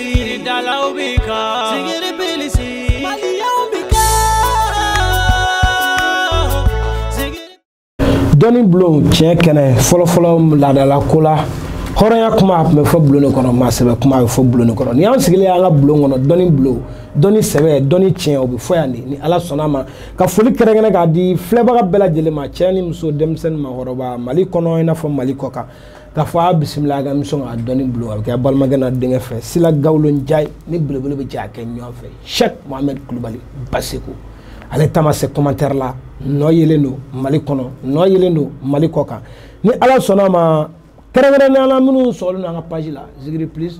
Yiridalaw bɛɛ kan. Zikiri plus. Maliyɛnw bɛɛ kan. Zikiri. dɔnni bulon tiɲɛ kɛnɛ fɔlɔfɔlɔ laadala ko la hɔrɔnya kuma a tun bɛ fɔ bulon de kɔnɔ maa sɛbɛ kuma a bɛ fɔ bulon de kɔnɔ nin y'an sigilen y'an ka bulon kɔnɔ dɔnni bulon dɔnni sɛbɛ dɔnni tiɲɛ o bɛ fɔ yan de ni ala sɔnna a ma ka foli kɛrɛnkɛrɛn k'a di filɛbaga bɛɛ lajɛlen ma cɛ ni muso denmisɛn ni maakɔrɔba mali kɔnɔ i n'a fɔ mali kɔkan k'a fɔ a bisimila a ka émission na dɔnni bulon a bɛ kɛ balimakɛ n'a denkɛ fɛ sila gawulo njayi ni belebele bɛ jɛ a kɛ ɲɔgɔn fɛ shɛk mohamɛd kulubali baseko ale ta ma se commentaire la nɔ yelen don mali kɔnɔ nɔ yelen don mali kɔ kan ni ala sɔnna a ma kɛrɛnkɛrɛnnenya la minnu sɔgɔlen don an ka page la zikiri plus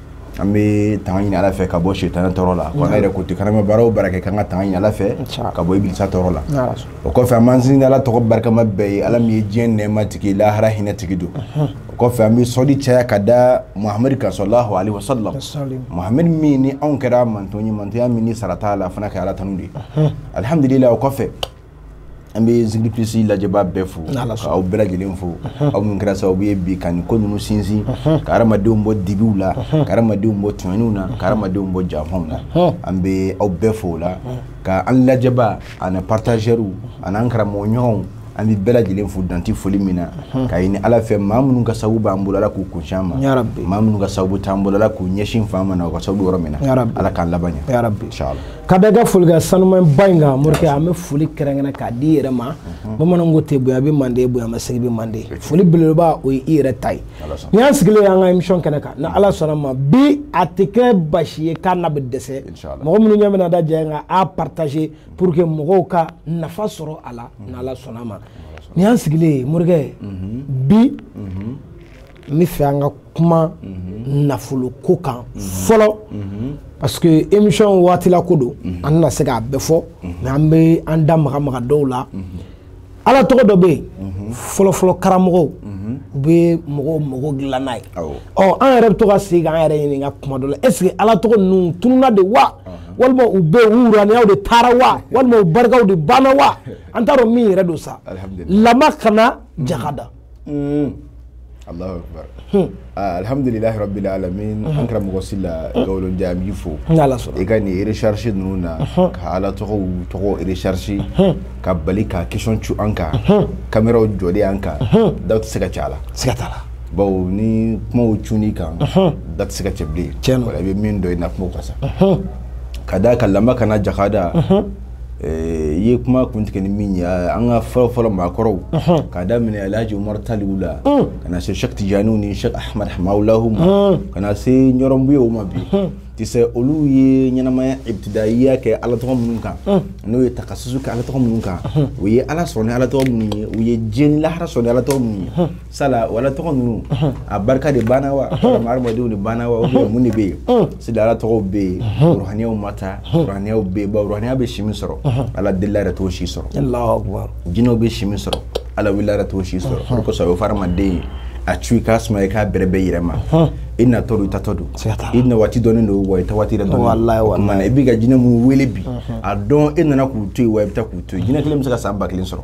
an bɛ tanga ɲini ala fɛ ka bɔ sitana tɔɔrɔ la ko yɛrɛ ko ten ko n'an bɛ baara o baara kɛ k'an ka tanga ɲini ala fɛ ka bɔ ibilisa tɔɔrɔ la o kɔfɛ an b'an sinsin ala tɔgɔ barikama bɛɛ ye ala min ye diɲɛ nɛɛma tigi lahara hinɛ tigi don o kɔfɛ an bɛ sɔli caya ka da muhamadu kan sɔlahu alaihi wasallam muhamadu min ni anw kɛra a manton ye mantonya min ni sara t'a la fo an ka ala tanu de alihamudulila o kɔfɛ an bɛ zikiri plus lajɛbaa bɛɛ fo k'aw bɛɛ lajɛlen fo aw minnu kɛra sababu ye bi ka nin ko ninnu sinsin ka hadamadenw bɔ dibiw la ka hadamadenw bɔ tununniw na ka hadamadenw bɔ janfaw na an bɛ aw bɛɛ fo o la ka an lajɛbaa ani partagɛriw an'an karamɔgɔ ɲɔgɔnw an bɛ bɛɛ lajɛlen fo dan tɛ foli min na ka ɲini ala fɛ maa minnu ka sababu b'an bolo ala k'u kuncɛ ma maa minnu ka sababu t'an bolo ala k'u ɲɛsin fan ma na u ka sababu yɔrɔ min na ala k'an laban ɲɛ ka da ka foli ka sanuman ba in kan morikɛ an bɛ foli kɛrɛnkɛrɛn k'a di i yɛrɛ ma mhm. bamananw ko ten bonya bɛ mande bonya masegin bɛ mande foli belebeleba o ye i yɛrɛ ta ye ni an sigilen an ka émission kɛnɛ kan ni mhm. ala sɔnna a ma bi a tɛ kɛ baasi ye k'a na bɛ dɛsɛ mɔgɔ minnu ɲɛ bɛna da ja in kan a partager pour que mɔgɔw ka nafa sɔrɔ a la mhm. ni ala sɔnna a ma ni an sigilen ye morikɛ bi n bɛ fɛ an ka kuma mhm. nafolo ko kan mhm. fɔlɔ mhm. parce que émission waatila ko don an tɛna se k'a bɛɛ fɔ mais an bɛ an da maga maga dɔw la ala tɔgɔ dɔ bɛ yen fɔlɔfɔlɔ karamɔgɔw u bɛ mɔgɔw mago dilan n'a ye ɔ an yɛrɛ bɛ to ka segin k'an yɛrɛ ɲininka kuma dɔ la est ce que ala tɔgɔ ninnu tununa de wa walima u bɛ yen u wuraniyaw de taara wa walima u barikaw de banna wa an t'a dɔn min yɛrɛ don sa lama kana jaka da. Alahu akibaru alihamudulilahi rabili alamina an karamɔgɔ sila gawulo njayi an b'i fo ni Ala sɔnna i ka nin recherche ninnu na ka Ala tɔgɔw tɔgɔ recherche ka bali ka question cun an kan kameraw jɔlen an kan daw tɛ se ka cɛ a la siga t'a la bawo ni kumaw cun'i kan da tɛ se ka cɛ bilen tiɲɛ don i bɛ min dɔn i na kumaw ka sa ka d'a kan lama kana jakada Eh, i ye kuma kun tigɛ ni min ye eh, an ka fɔlɔ fɔlɔ maakɔrɔw k'a daminɛ alhaji umaru taliw la mm. ka na se shek tijaniw ni shek ahmad hamahulahu ma mm. ka na se ɲɔrɔn buyew ma bi mm. tu sais olu ye ɲɛnamaya ibtidayiya kɛ ala tɔgɔ minnu kan n'o ye takasusu kɛ ala tɔgɔ minnu kan u ye ala sɔrɔ ni ala tɔgɔ minnu ye u ye diɲɛ ni lahara sɔrɔ ni ala tɔgɔ minnu ye sala o ala tɔgɔ ninnu a barika de banna wa walima hadamadenw de banna wa ou bien mun de bɛ yen sinon ala tɔgɔw bɛ yen ruhaniyaw ma taa ruhaniyaw bɛ yen bawo ruhaniya bɛ si min sɔrɔ ala delila yɛrɛ t'o si sɔrɔ jinɛw bɛ si min sɔrɔ ala welela yɛrɛ t'o si sɔrɔ o de kosɔn a bɛ fɔ hadamaden ye a cu i k'a suma i k'a bɛrɛbɛn i yɛrɛ ma i natɔ don i taatɔ don i na waati dɔnnen don wa i taa waati yɛrɛ dɔnnen o tuma na i b'i ka jinɛ minnu wele bi a dɔn e nana k'u to yen wa i bɛ taa k'u to yen jinɛ kelen bɛ se ka san ba kelen sɔrɔ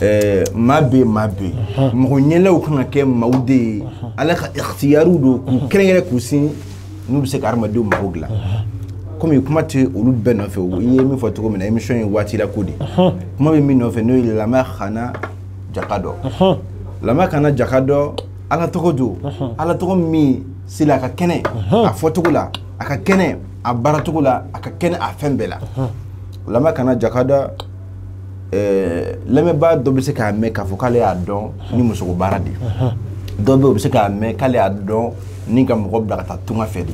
ɛɛ maa bɛ yen maa bɛ yen mɔgɔ ɲɛlaw kan ka kɛ maaw de ye ala ka ikhtiyariw don k'u kɛrɛnkɛrɛn k'u sin n'u bɛ se ka hadamadenw mago dilan komi kuma tɛ olu bɛɛ nɔfɛ o i ye min fɔ cogo min na émission ye waati la ko de kuma bɛ min nɔfɛ n'o ye lama kana jakada lama kana jakada ala tɔgɔ don ala tɔgɔ min seli a ka kɛnɛ a fɔcogo la a ka kɛnɛ a baaracogo la a ka kɛnɛ a fɛn bɛɛ la lama kana jakada ɛɛ lamɛnbaa dɔ bɛ se k'a mɛn k'a fɔ k'ale y'a dɔn ni musoko baara de ye dɔ bɛ yen o bɛ se k'a mɛn k'ale y'a dɔn ni ka mɔgɔ bila ka taa tunga fɛ de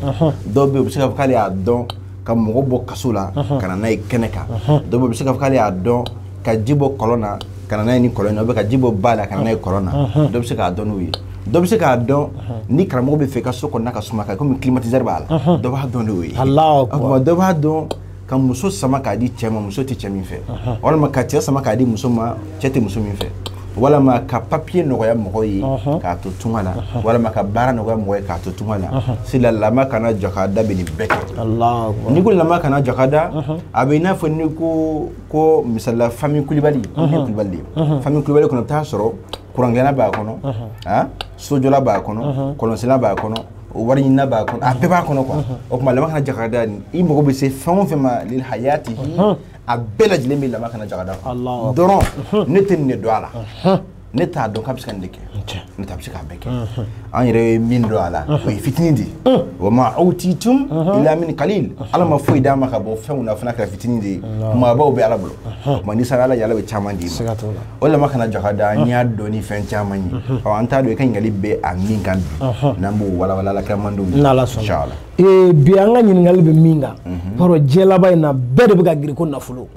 dɔ bɛ yen o bɛ se k'a fɔ k'ale y'a dɔn ka mɔgɔ bɔ kaso la ka na n'a ye kɛnɛ kan dɔ bɛ yen o bɛ se k'a fɔ k'ale y'a dɔn ka ji bɔ kɔlɔn na ka na n'a ye ni kɔlɔn na ka ji bɔ ba la ka na n'a ye kɔlɔn na dɔ bɛ se k'a dɔn n'o ye dɔ bɛ se k'a dɔn ni karamɔgɔ b'a fɛ i ka so kɔnɔna ka suma ka komi climatiseur b'a la dɔ b'a dɔn n'o ye dɔ b'a dɔn ka muso sama k'a di cɛ ma muso tɛ cɛ min fɛ walima ka cɛ sama k'a di muso ma cɛ tɛ muso min fɛ walima ka papiye nɔgɔya mɔgɔ ye k'a to tunga na walima ka baara nɔgɔya mɔgɔ ye k'a to tunga na sila lama kana jakada bɛ nin bɛɛ kɛ n'i ko lama kana jakada a bɛ i n'a fɔ n'i ko ko misali la fami kulibali kulibali fami kulibali kɔnɔ i bɛ taa sɔrɔ kurankɛna b'a kɔnɔ sojɔla b'a kɔnɔ kɔlɔnsenna b'a kɔnɔ o wari ɲinina b'a kɔnɔ a bɛɛ b'a kɔnɔ quoi o tuma lama kana jakada nin i mago bɛ se fɛn o fɛn ma lil hayati a bɛɛ lajɛlen bɛ lama kana jakada kɔnɔ dɔrɔn ne tɛ nin de dɔn a la ne t'a dɔn k'a bɛ se ka nin de kɛ ne t'a bɛ se k'a bɛɛ kɛ an yɛrɛ ye min dɔn a la o ye fitinin de ye wa ma awtitum ila min kalil ala ma foyi d'an ma ka bɔ fɛnw na fo n'a kɛra fitinin de ye maabaw bɛ ala bolo tuma n'i sara ala ye ala bɛ caman d'i ma o lama kana jakada an y'a dɔn ni fɛn caman ye ɔ an t'a dɔn i ka ɲininkali bɛ a min kan bi n'an b'o walawala ala kira mandenw ye n'ala sɔnna bi an ka ɲininkali bɛ min kan baro diɲɛ laban in na bɛɛ de bɛ ka girin ko nafolo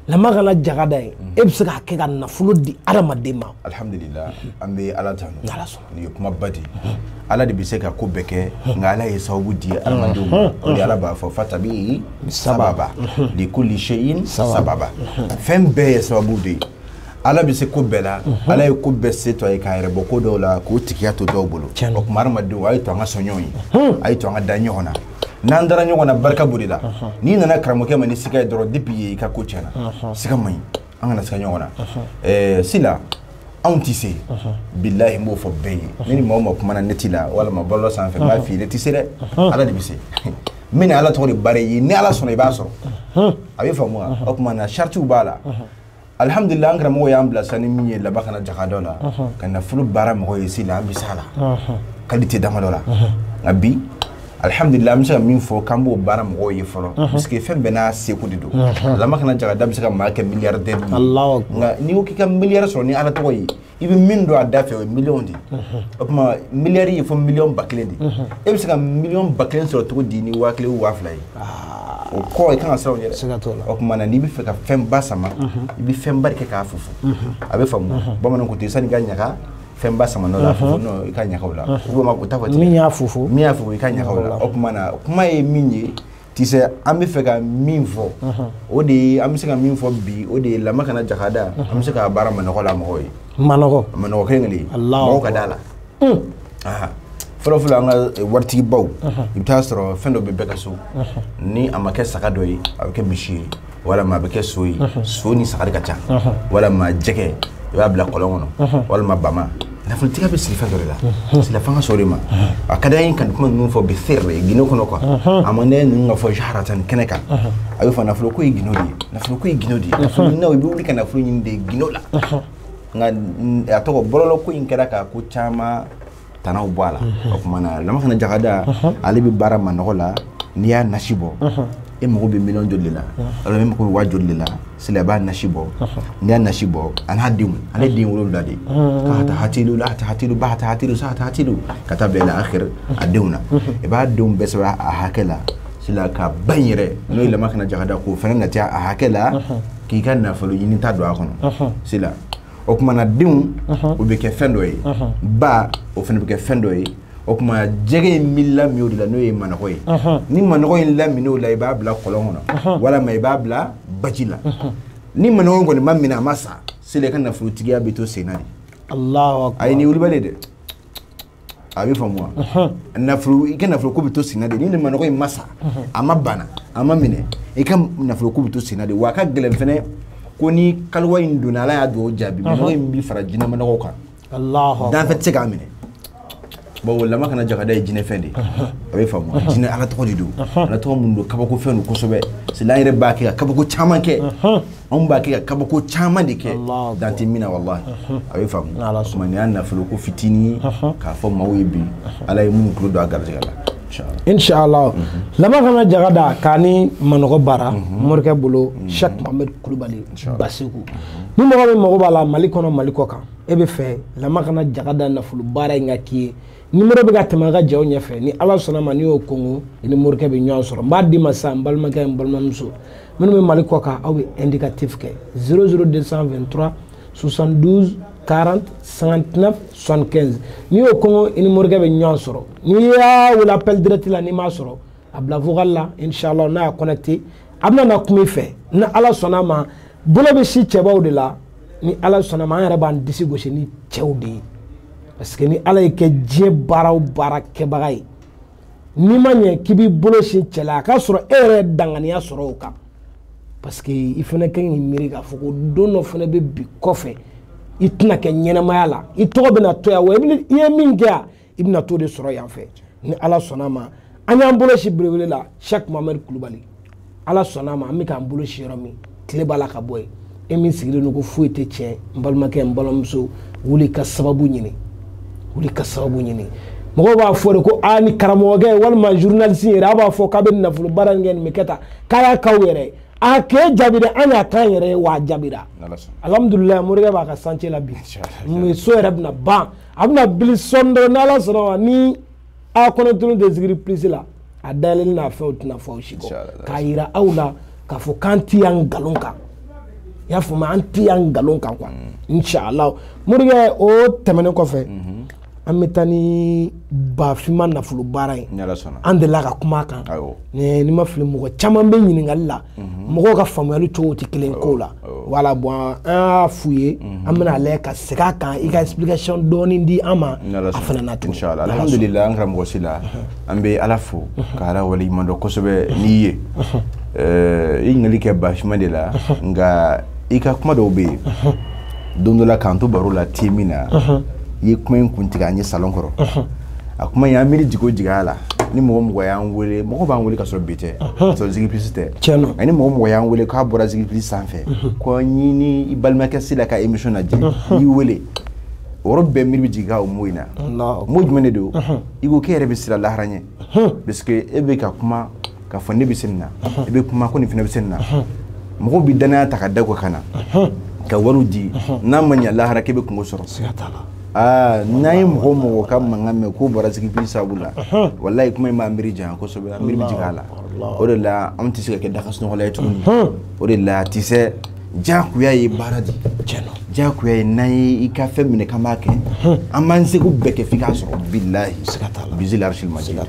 lama kana jakada ye e bɛ se k'a kɛ ka nafolo di adamaden ma alhamdulilayi an bɛ ala tanu n'ala sɔnna nin ye kuma ba de ala de bɛ se ka ko bɛɛ kɛ nka ala ye sababu di adamadenw ma o de ala b'a fɔ fatabi sababa li kulli shay'in sababa fɛn bɛɛ ye sababu de ye ala bɛ se ko bɛɛ la ala ye ko bɛɛ se to a ye k'a yɛrɛ bɔ ko dɔw la k'o tigiya to dɔw bolo o tuma adamadenw a ye to an ka sɔn ɲɔgɔn ye a ye to an ka da ɲɔgɔn na n'an dara ɲɔgɔn na barika b'o de la n'i nana karamɔgɔkɛ ma ni siga ye dɔrɔn depuis ye i ka ko tiɲɛna siga man ɲi an kana siga ɲɔgɔn na eh, sila anw tɛ se bilahi n b'o fɔ bɛɛ ye ne ni maa o maa kumana neti la walima bɔlɔlɔ sanfɛ n b'a f'i ye ne tɛ se dɛ ala de bɛ se n bɛna ala tɔgɔ de baara i ye ni ala sɔnna i b'a sɔrɔ a bɛ faamu wa o tuma na saritiw b'a la alihamudulila an karamɔgɔ y'an bilasira ni min ye lama kana jakada la ka nafolo baara mɔgɔ ye sila an bɛ s'a la kalite damadɔ la nka bi alihamdulila an bɛ se ka min fɔ k'an b'o baara mɔgɔw ye fɔlɔ parce que fɛn bɛɛ n'a seko de don lama kana jagada bɛ se ka maa kɛ miliyaridɛri ye nka n'i ko k'i ka miliyari sɔrɔ ni ala tɔgɔ ye i bɛ min don a da fɛ o ye miliyɔn de ye o tuma miliyari ye fo miliyɔn ba kelen de e bɛ se ka miliyɔn ba kelen sɔrɔ cogo di ni waa kelen waa fila ye o kɔ i kan ka siran o ɲɛ dɛ o tuma na n'i bɛ fɛ ka fɛnba sama i bɛ fɛnba de kɛ k'a fofo a bɛ faamu bamananw ko ten sanni ka ɲaga fɛn ba sama la fo i ka ɲagaw la ma ko ta fɔ min y'a fofo min y'a fɔ i ka ɲagaw la o tuma na kuma ye min ye tu sais an bɛ fɛ ka min fɔ o de ye an bɛ se ka min fɔ bi o de ye lama kana jakada an bɛ se ka baara manɔgɔ la mɔgɔw ye manɔgɔ manɔgɔ kelen kelen mɔgɔw ka d'a la fɔlɔfɔlɔ an ka waritigibaw i bɛ taa sɔrɔ fɛn dɔ bɛ bɛɛ ka so ni a ma kɛ saga dɔ ye a bɛ kɛ misi ye walima a bɛ kɛ so ye so ni saga de ka ca walima jɛgɛ i b'a bila kɔlɔn kɔnɔ walima bama nafolotigiya bɛ siri fɛn dɔ de la sila fanga sɔrɔ de ma a ka d'an ye ka nin kuma ninnu fɔ bi fɛrɛ ye gundo kɔnɔ quoi a man ɲi ninnu ka fɔ jaharatan kɛnɛ kan a bɛ fɔ nafolo ko ye gundo de ye nafolo ko ye gundo de ye nafolo ɲininaw i bɛ wuli ka nafolo ɲini de gundo la nka a tɔgɔ bɔlɔlɔ ko in kɛra ka ko caman tanaw bɔ a la o tuma na lama kana jagada ale bɛ baara manɔgɔ la n'i y'a nasi bɔ e mago bɛ miliyɔn joli la walima e mako bɛ waa joli la sila i b'a nasi bɔ n'i y'a nasi bɔ a n'a denw ale den wolonwula de ka taa hati la a hati ba ta hati sa ta hati ka taa bɛn a kɛra a denw na i b'a denw bɛɛ sɛbɛn a hakɛ la sila ka ba in yɛrɛ n'o ye lama kana jagada k'o fana na caya a hakɛ la k'i ka nafolo ɲinita don a kɔnɔ sila o tuma na denw o bɛ kɛ fɛn dɔ ye ba o fana bɛ kɛ fɛn dɔ ye o tuma jɛgɛ in bɛ lamin o de la n'o ye manɔgɔ ye ni manɔgɔ in laminna o la i b'a bila kɔlɔn kɔnɔ walima i b'a bila baji la ni manɔgɔ kɔni ma minɛ a ma sa sila i ka nafolotigiya bɛ to senna de a ye nin wulibali dɛ a bɛ faamu wa nafolo i ka nafolo ko bɛ to senna de ni ne manɔgɔ in ma sa a ma bana a ma minɛ i ka nafolo ko bɛ to senna de wa a ka gɛlɛn fɛnɛ ko ni kaliwa in donna ala y'a dugawu jaabi manɔgɔ in bɛ fara jinɛmanɔgɔw kan danfɛn tɛ se k'a minɛ bon lama kana jagada ye jinɛfɛn de a bɛ faamu jinɛ ala tɔgɔ de don ala tɔgɔ minnu don kabako fɛn don kosɛbɛ sila yɛrɛ b'a kɛ ka kabako caman kɛ anw b'a kɛ ka kabako caman de kɛ dan tɛ min na walahi a bɛ faamu o tuma nin y'a nafolo ko fitinin k'a fɔ maaw ye bi ala ye minnu tulo don a garijɛgɛ la inshallah lama kana jaga da ka ni manɔgɔ baara morikɛ bolo shek mohamed kulubali basiku ni mɔgɔ min mago b'a la mali kɔnɔ mali kɔ kan e b'a fɛ lama kana jaga da nafolo baara in ka k'i ye nimoro bɛ ka tɛmɛ a ka jaw ɲɛfɛ ni ala sɔnna ma n'i y'o kongo i ni morikɛ bɛ ɲɔgɔn sɔrɔ n b'a d'i ma sisan n balimakɛ n balimamuso minnu bɛ mali kɔ kan aw bɛ indicatif kɛ 00223 72 40 59 75 n'i y'o kongo i ni morikɛ bɛ ɲɔgɔn sɔrɔ n'i y'a wele appel direct la n'i m'a sɔrɔ a bila vocal la inshallah n'a y'a connecté a bɛna na kuma i fɛ ni ala sɔnna ma bolo bɛ sin cɛbaw de la ni ala sɔnna ma an yɛrɛ b'an disi gosi ni cɛw de ye parce que ni ala y'i kɛ diɲɛ baara o baara kɛbaga ye n'i ma ɲɛ k'i b'i bolo sin cɛ la a k'a sɔrɔ e yɛrɛ ye danganiya sɔrɔ o kan parce que i fana ka ɲi miiri k'a fɔ ko don dɔ fana bɛ bi kɔfɛ i tɛna kɛ ɲɛnamaya la i tɔgɔ bɛna to yan wa i ye min kɛ yan i bɛna t'o de sɔrɔ yan fɛ ni ala sɔnna ma an y'an bolo sin belebele la shek mohamɛd kulubali ala sɔnna ma an bɛ k'an bolo sin yɔrɔ min tile b'a la ka bɔ yen e min sigilen don ko foyi tɛ tiɲɛ n balimakɛ n balimamuso wuli ka sababu ɲini wuli ka sababu ɲini mɔgɔw b'a fɔ de ko a ni karamɔgɔkɛ walima journaliste yɛrɛ a b'a fɔ k'a bɛ nafolo baara in kɛ nin bɛ kɛ tan k'a y'a k'aw yɛrɛ ye a k'e jaabi dɛ an y'a k'an yɛrɛ ye wa a jaabira alhamdulilayi morikɛ b'a ka chantier la bi so yɛrɛ bɛna ban a bɛna bili sɔɔni dɔrɔn n'ala sɔnna ma ni a kɔnɔ tulu tɛ zikiri plus la a dayɛlɛli n'a fɛnw tɛna fɔ aw si kɔ k'a yira aw la k'a fɔ k'an ti yan nkalon kan i y'a faamu an ti yan nkalon kan quoi inshallah morikɛ o tɛmɛnen kɔfɛ an bɛ taa ni bafima nafolo baara ye an delila ka kuma a kan ni n ma fili mɔgɔ caman bɛ ɲininkali la mɔgɔw ka faamuyali cogo tɛ kelen ko la oh. voilà bon an y'a f'u ye mhm. an bɛna a lajɛ ka segin a kan i ka explication dɔɔni di an ma a fana na tugun inchallah alhamdulillah an karamɔgɔ sila mhm. an bɛ ala fo ka ala waleɲuman dɔn kosɛbɛ n'i ye mhm. eh, i ɲininkali kɛ bafima de la nka i ka kuma dɔw bɛ yen don dɔ la k'an to baro la te min na i ye kuma in kun tigɛ an ye salon kɔrɔ a kuma y'an miiri jigin o jigin a la ni mɔgɔ mɔgɔ y'an wele mɔgɔ b'an wele ka sɔrɔ bi tɛ ka sɔrɔ zigipilisi tɛ tiɲɛ don ani mɔgɔ mɔgɔ y'an wele k'a bɔra zigipilisi sanfɛ ko n y'i ni i balimakɛ sila ka emission lajɛ n y'i wele o yɔrɔ bɛɛ miiri bɛ jigin ka o mɔgɔ in na mɔgɔ jumɛn de don i ko k'e yɛrɛ bɛ siran lahara ɲɛ parce que e bɛ ka kuma k'a fɔ ne bɛ se nin na i bɛ kuma ko nin fana bɛ se nin na mɔgɔw bɛ danaya ta ka da kɔ ka na ka wariw di n'a ma ɲɛ lahara k'e bɛ kunko sɔrɔ siga t'a la aa n'an ye mɔgɔ o mɔgɔ ka mankan mɛn k'o bɔra zigipilisi sabu la walayi kuma in b'an miiri janya kosɛbɛ an miiri bɛ jigin a la o de la anw tɛ se ka kɛ dakasunɔgɔla ye tuguni o de la tisɛ jakuya ye baara de jakuya ye n'an ye i ka fɛn minɛ k'an b'a kɛ an b'an seko bɛɛ kɛ f'i k'a sɔrɔ bilahi bizil arisil majidi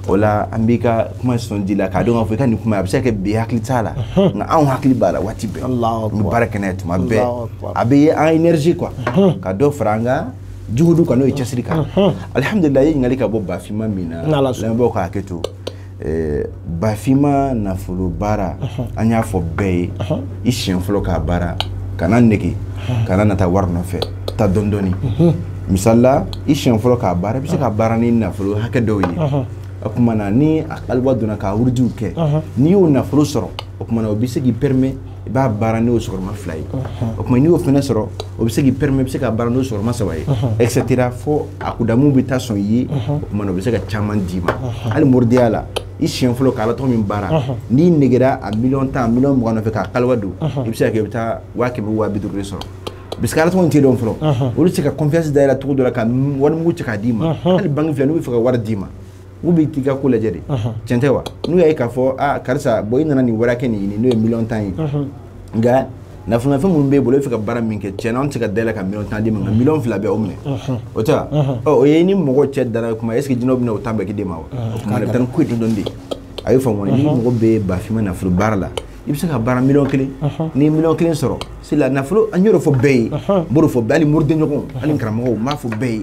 o la an b'i ka kuma sɔn di la k'a dɔn k'a fɔ i ka nin kuma a bɛ se ka kɛ bi hakili t'a la nka anw hakili b'a la waati bɛɛ an bɛ baara kɛ n'a ye tuma bɛɛ a bɛ ye an énergie quoi ka dɔ fara an ka juhudu kan n'o ye cɛsiri kan alihamudulila i ye ɲininkali ka bɔ bafima min na lamɛnbaaw ka hakɛ to Eh, bafima nafolo baara an y'a fɔ bɛɛ ye i siɲɛ fɔlɔ k'a baara kana nege kana nata wari nɔfɛ taa dɔɔni dɔɔni misalila i siɲɛ fɔlɔ k'a baara i bɛ se ka baara ni nafolo hakɛ dɔw ye a kumana ni a kaliwa donna ka wurudiw kɛ n'i y'o nafolo sɔrɔ o kumana o bɛ se k'i permet i b'a baara n'o sigiyɔrɔma fila ye o kuma n'i y'o fana sɔrɔ o bɛ se k'i permet i bɛ se ka baara n'o sigiyɔrɔma saba ye ɛsɛtera fo a kudamu bɛ taa sɔn i ye o kumana o bɛ se ka caman d'i ma hali moridenya la i siɲɛ fɔlɔ k'ala tɔgɔ min baara n'i negera a miliyɔn tan miliyɔn mugan nɔfɛ k'a kaliwa don i bɛ se ka kɛ i bɛ taa waa kɛmɛ waa bi duuru de sɔrɔ parce que ala tɔgɔ in t'i dɔn fɔlɔ olu tɛ se ka confiance da i la cogo dɔ la ka warimugu cɛ k'a d'i ma hali banki filɛ n'u bɛ fɛ ka wari d'i ma u bɛ t'i ka ko lajɛ de cɛn tɛ wa n'u y'a ye k'a fɔ aa karisa bon i nana nin wari hakɛ nin ɲini n'o ye miliyɔn tan ye nka nafolofɛn minnu b'i bolo e fɛ ka baara min kɛ cɛn an tɛ ka da i la ka miliyɔn tan d'i ma miliyɔn fila bɛ o minɛ o ta o ye ni mɔgɔ cɛ dara kuma est-ce que jinɛw bɛ o tan bɛɛ k'a d'i ma wa o tuma bɛ taa ni ko dɔn de a y'o faamu ni mɔgɔ bɛ bafima nafolo baara la i bɛ se ka baara miliyɔn kelen n'i miliyɔn kelen sɔrɔ sila nafolo an y'o fɔ bɛɛ ye mori fɔ bɛɛ ni moriden ɲɔgɔn ani karamɔgɔ b'a fɔ bɛɛ ye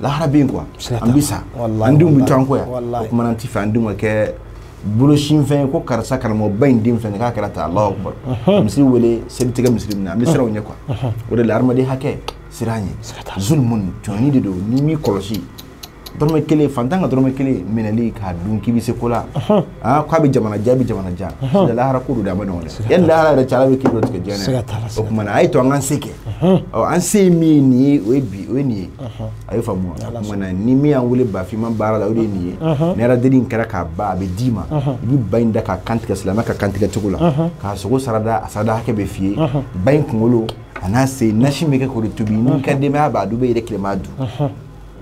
lahara bɛ yen quoi an bɛ sa an denw bɛ to an kɔ yan o kumana an ti fɛ an denw ka kɛ bolosinfɛn ko karisa karamɔgɔba in den fɛn k'a kɛra ta Alahu akibaru ka misiri wele selitigɛ misiri min na an bɛ siran o ɲɛ quoi o de la hadamaden hakɛ siran ɲɛ zulumun jɔnni de don n'i m'i kɔlɔsi dɔrɔmɛ kelen fantan ka dɔrɔmɛ kelen minɛli k'a dun k'i bɛ se ko la aa k'a bɛ jamana ja bɛ jamana ja lahara ko don dɛ a ma nɔgɔn dɛ yanni lahara yɛrɛ cɛ ala bɛ k'i dɔ tigɛ diɲɛ na o kumana a y'a to an k'an se kɛ an se ye min ye o ye bi o ye nin ye a ye faamu wa ni min y'an wele bafinma baara la o de ye nin ye ni aladeli in kɛra k'a ban a bɛ d'i ma i bɛ ba in da k'a kantigɛ silamɛ ka kantigɛ cogo la k'a sogo sarada a sarada hakɛ bɛ f'i ye ba in kunkolo a n'a sen nasi bɛ kɛ k'o de tobi n'i ka denbaya b'a dun bɛ yɛrɛ kelen b'a dun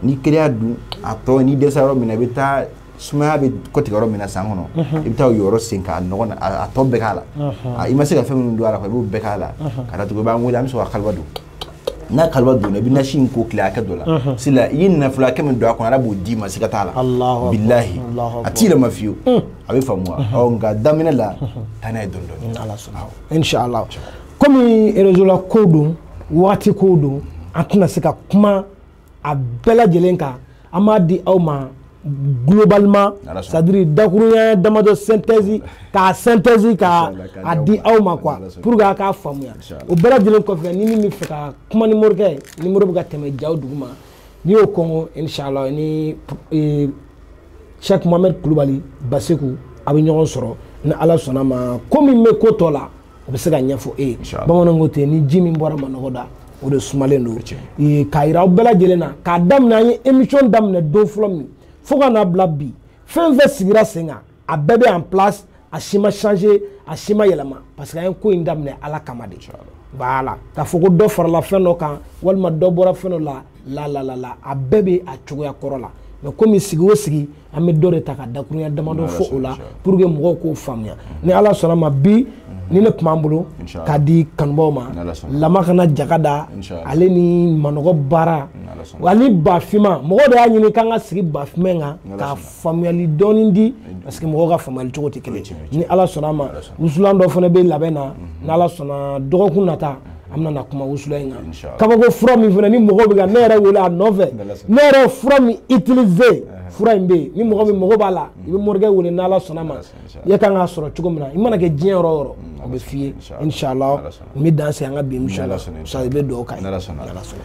n'i kelen y'a dun a tɔ n'i dɛsɛ yɔrɔ min na i bɛ taa sumaya bɛ kɔtigɛ yɔrɔ min na san kɔnɔ mhm. i bɛ taa o yɔrɔ sen k'a nɔgɔ a tɔ bɛɛ k'a la mhm. i ma se ka fɛn minnu dun a la i b'o bɛɛ k'a la mhm. ka datugu i b'an wele an bɛ sɔrɔ ka kaliwa don n'a kaliwa donna i bɛ nasi in ko tile hakɛ dɔ la sila i ye nafolo hakɛ min don a kɔnɔ ala b'o d'i ma siga t'a la bilahi a t'i yɛlɛma fiyewu mm. a bɛ faamu wa ɔ nka daminɛ la taa n'a ye dɔɔni dɔɔni inshallah komi réseau la ko don waati ko don an tɛna se ka kuma a bɛɛ lajɛlen kan an b'a di aw ma globalement c'est à dire dakuruɲɛ damadɔ synthèse k'a synthèse k'a di aw ma quoi pour que a k'a faamuya o bɛɛ lajɛlen kɔfɛ ni min bɛ fɛ ka kuma ni morikɛ ye numéro bɛ ka tɛmɛ jaw duguma n'i y'o kɔnkɔn inshallah ni eh, Cheikh Mohamed Kulubali Baseku a bɛ ɲɔgɔn sɔrɔ ni Ala sɔnna ma ko min bɛ ko tɔ la o bɛ se ka ɲɛfɔ e ye bamananw ko ten ni ji min bɔra manɔgɔ da o de sumalen don k'a yira aw bɛɛ lajɛlen na k'a daminɛ an ye émission daminɛ don fɔlɔ min fo ka n'a bila bi fɛn fɛn sigira sen kan a bɛɛ bɛ en place a si ma changer a si ma yɛlɛma parce que an ye ko in daminɛ ala kama de voilà k'a fɔ ko dɔ farala fɛn dɔ kan walima dɔ bɔra fɛn dɔ la la la la la a bɛɛ bɛ a cogoya kɔrɔ la mais komi sigi o sigi an bɛ dɔ de ta ka dakurunya damadɔ fɔ o la pour que mɔgɔw k'o faamuya ni ala sɔnna ma bi nin de tun b'an bolo k'a di kanubaw ma lama kana jaga da ale ni manɔgɔ baara wa ni bafinma mɔgɔ de y'a ɲini k'an ka sigi bafinma in kan ka faamuyali dɔɔni di parce que mɔgɔw ka faamuyali cogo tɛ kelen ni ala sɔnna ma wusulan dɔ fana bɛ labɛn na n'ala sɔnna dɔgɔkun nata an bɛna na kuma wusulan in kan Inch'Allah. kabako fura min fana ni mɔgɔ bɛ ka ne yɛrɛ wele a nɔfɛ N'Ala sɔnna. ne yɛrɛ ye fura min utiliser fura in bɛ yen ni mɔgɔ min mako b'a la i bɛ morikɛ wele n'ala sɔnna ma N'Ala sɔnna, Inch'Allah. i ka kan k'a sɔrɔ cogo min na i mana kɛ diɲɛ yɔrɔ o yɔrɔ o bɛ f'i ye Inch'Allah. inshallah N'Ala sɔnna. n bɛ dan se an ka bi emission N'Ala sɔnna, la sa i bɛ dugawu k'an ye N'Ala sɔnna. N'Ala sɔnna.